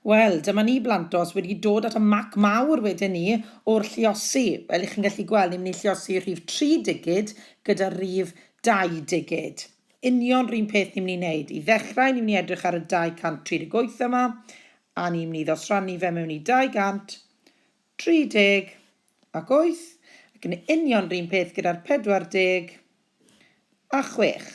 Wel, dyma ni Blantos wedi dod at y mac mawr wedyn ni o'r lluosi. Fel i chi'n gallu gweld, ni'n mynd i lluosi rhif 3 digid gyda rhif 2 digid. Union rhywun peth ni'n mynd i wneud. I ddechrau, ni'n mynd i edrych ar y 238 yma, a ni'n mynd i ddosrannu fe mewn i 230 ac 8, ac yn union rhywun peth gyda'r 40 a 6.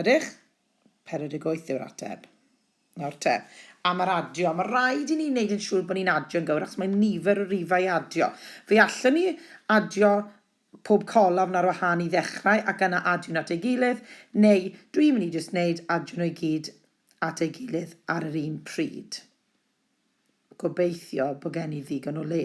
Ydych? 48 yw'r ateb. Nawr te, am yr adio. Mae rhaid i ni wneud yn siŵr bod ni'n adio'n gywir achos mae nifer o rifau i adio. Fe allwn ni adio pob colofn ar wahân i ddechrau ac yna adio nhw at ei gilydd, neu dwi'n mynd i jyst wneud adio nhw i gyd at ei gilydd ar yr un pryd. Gobeithio bod gen i ddigon o le.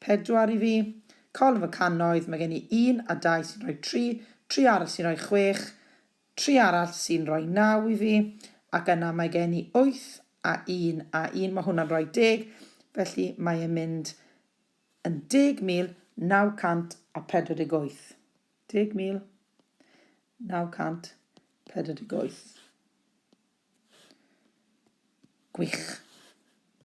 Pedwar i fi. Call of y cannoedd, mae gen i un a dau sy'n rhoi tri, tri arall sy'n rhoi chwech, tri arall sy'n rhoi naw i fi, ac yna mae gen i wyth a un a un, mae hwnna'n rhoi deg, felly mae e'n mynd yn 10,948. 10,948. Gwych.